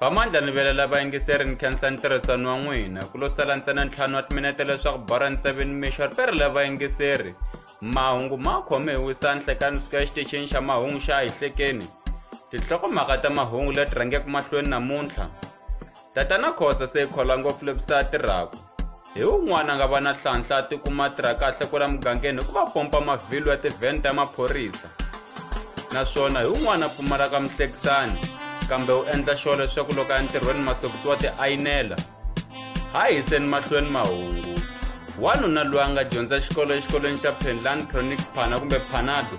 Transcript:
vamandla ni vela lava yingiseri ni khensa ntirhisano wa n'wina ku lo sala ntsena ntlhanu wa timinete leswaku bora ntseveni mixor pere lava yingiseri mahungu ma khome hi wisanhle ka nsuka exitichini xa mahungu xa hihlekeni tinhlokomhaka ta mahungu leti rhangeke mahlweni namuntlha tatana khosa se yi khola ngopfu levisa tirhaku hi un'wana a nga va na hlanhla a tikuma a tirha kahle ku la mugangeni hi ku va pompa mavhilwa ya tivheni ta maphorisa naswona hi un'wana a pfumalaka mihlekisani kambe u endla xo leswaku loko ya ntirhweni mahlokisiwa tiayinela ha hiseni mahlweni mahungu wanuna loyi a nga dyondza xikolo exikolweni xa penland chronic phana kumbe phanado